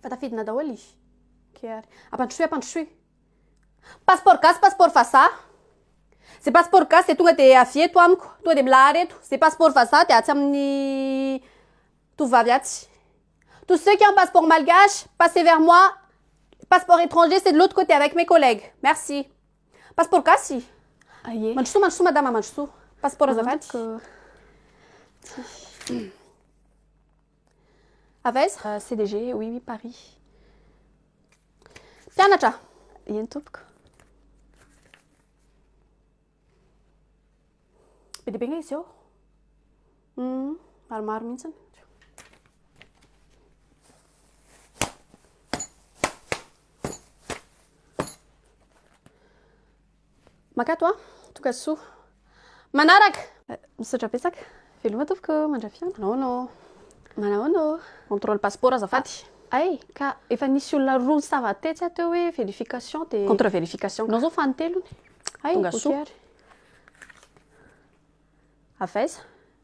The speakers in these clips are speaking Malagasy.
Efa tafidina daholo i. Ok ary. Ampandrosoy ampandrosoy. Passeport gasy passeport vazaha. Ze passeport gasy dia tonga dia avy eto amiko. Tonga dia milahara eto. Ze passeport vazaha dia atsy amin'ny tovovavy atsy. Tous ceux qui ont passeport malgache, passez vers moi. Passeport étranger c'est de l'autre côté avec mes collègues. Merci. Passeport gasy. Aie. Mandrosoa mandrosoa madama mandrosoa. Passeport azafady. Amiko. Tsy. Avy aiza? CDG, oui oui Paris. Mpianatra! Eny tompoko. Be dia be nga izy eo. Hmm, maromaro mihitsy. Makato a! Toka soa. Manaraka! Misaotra betsaka. Veloma tompoko mandrapiona. Manahoana oo? Manahoana oo? Contrôle passeport azafady. Hay ka efa nisy olona roa nisava tetsy aho teo hoe verification dia. Contre verification ka. Anao zao fanintelony. Hay ok ary. Avy aiza?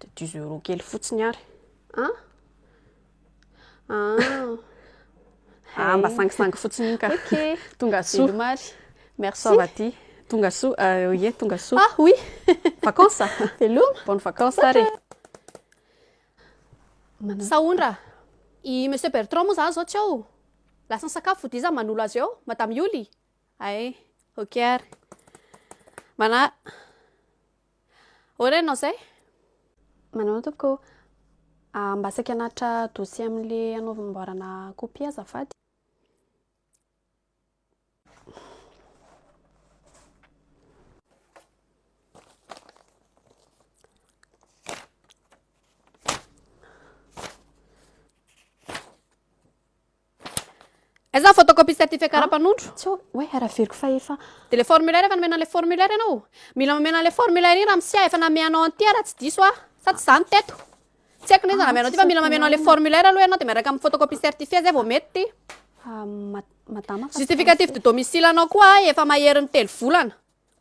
De dix euros kely fotsiny ary. Ah? Ah. Ah, mba sangisangy fotsiny iny ka. Ok. Tonga soa. Veloma ary. Merci. Sao va ty? Tonga soa. Euh, oui, tonga soa. Ah, oui. Vacances. Veloma. Bonne vacances ary. Sahondra. I Monsieur Bertrand moa zany zao tsy ao. Lasa ny sakafo fody iza manolo azy eo, Madame Yoli. Ay, ok ary. Mana Ahoana ianao izay? Manao ahoana tompoko? Ah, mba saika hanatitra dossier amin'le hanaovamboarana copie azafady. Aiza ny photocopie certificat ah, ara-panondro? Tsy hoe hoe haraveriko fa efa. Dia le formulaire efa nomena le formulaire ianao? Mila momena le formulaire iny Ramsia efa nameanao an'ity ah, raha tsy diso ah. Sa tsy izany teto? Tsy haiko n'iza ah, nameanao ity fa mila mamenao le formulaire aloha ianao dia miaraka amin'ny photocopie certifiée zay vao mety ity. Ah, madama. Justificatif de domicile anao koa ah, efa maherin'ny telo volana.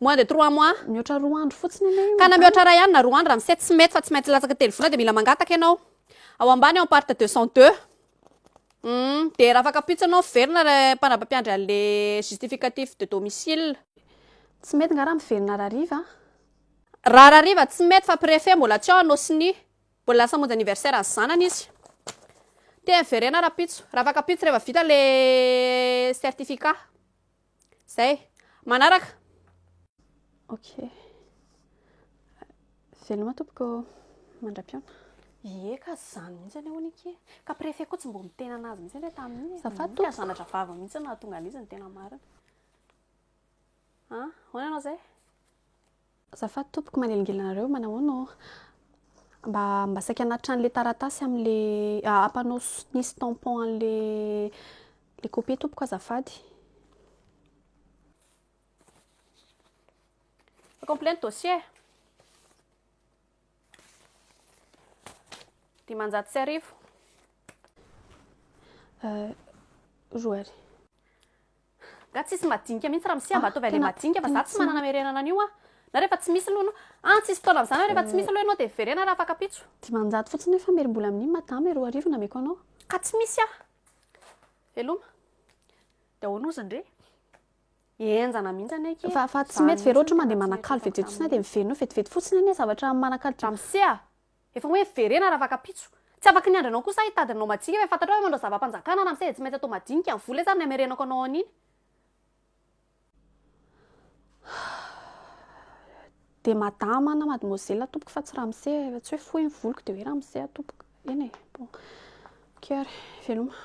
Moins de trois mois. Mihoatra roa andro fotsiny anie io. Kana mihoatra iray andro na roa andro ramose tsy mety fa tsy maintsy latsaka telo volana dia mila mangataka ianao ao ambany ao part deux cent deux humm dia raha afaka pitsy ianao miverina ilay mpandraba mpiandry anle justificatif de domicile. Tsy mety nga raha miverina rariva a? Raha rariva tsy mety fa prefet mbola tsy ao anao sonia mbola lasa hamonjy anniversaire an'ny zanany izy te miverena raha pitso raha afaka pitso reva vita le certificat. Zay. Manaraka. Ok. Veloma tompoko. Mandra-piona. Ie ka zany mihitsy anie hono ike. Ka préfet koa tsy mbo miteny anazy mihitsy anie tamin'iny. Zafady tompoko. Ka zanatra vava mihitsy no nahatonga an'izy ny tena marina. An, hoana ianao zay? Azafady tompoko manelingelina anareo manahoana oh mba mba saika anatitra an'le taratasy am'le ah, ampanao nisy tampon an'le le copie tompoko azafady complet ny dossier dimanjato sy arivo euh, roa arivo Nga tsisy madinika mihitsy ramsia mba ataovy anle madinika fa za tsy manana merenana anio a! Na refa tsy misy aloha an tsisy fotoana mizana hoe refa tsy misy aloha ianao de verena raha afaka pitso. Dimanjato fotsiny nefa mery mbola amin'iny madama e roa arivo nameko anao. Ka tsy misy a! Veloma. De ahoana ozy ndry? Enjana mihitsy anie ki e! Fa fa tsy mety ve raha ohatra hoe mandeha manakalo vetivety fotsiny a de miverina eo vetivety fotsiny anie zavatra manakalo. Ramose a! Efa hoe verena raha vaka-pitso. Tsy afaky ny andrinao kosa ahy hitady anao majinika ve fantatrao ve manao zava-panjakana ramose dia tsy maintsy atao madinika ny vola izany ny hamerenako anao an'iny dia madama na mademoiselle atompoko fa tsy ramose raha tsy hoe fohy ny voloko dia hoe ramose atompoko eny e bon ok ary veloma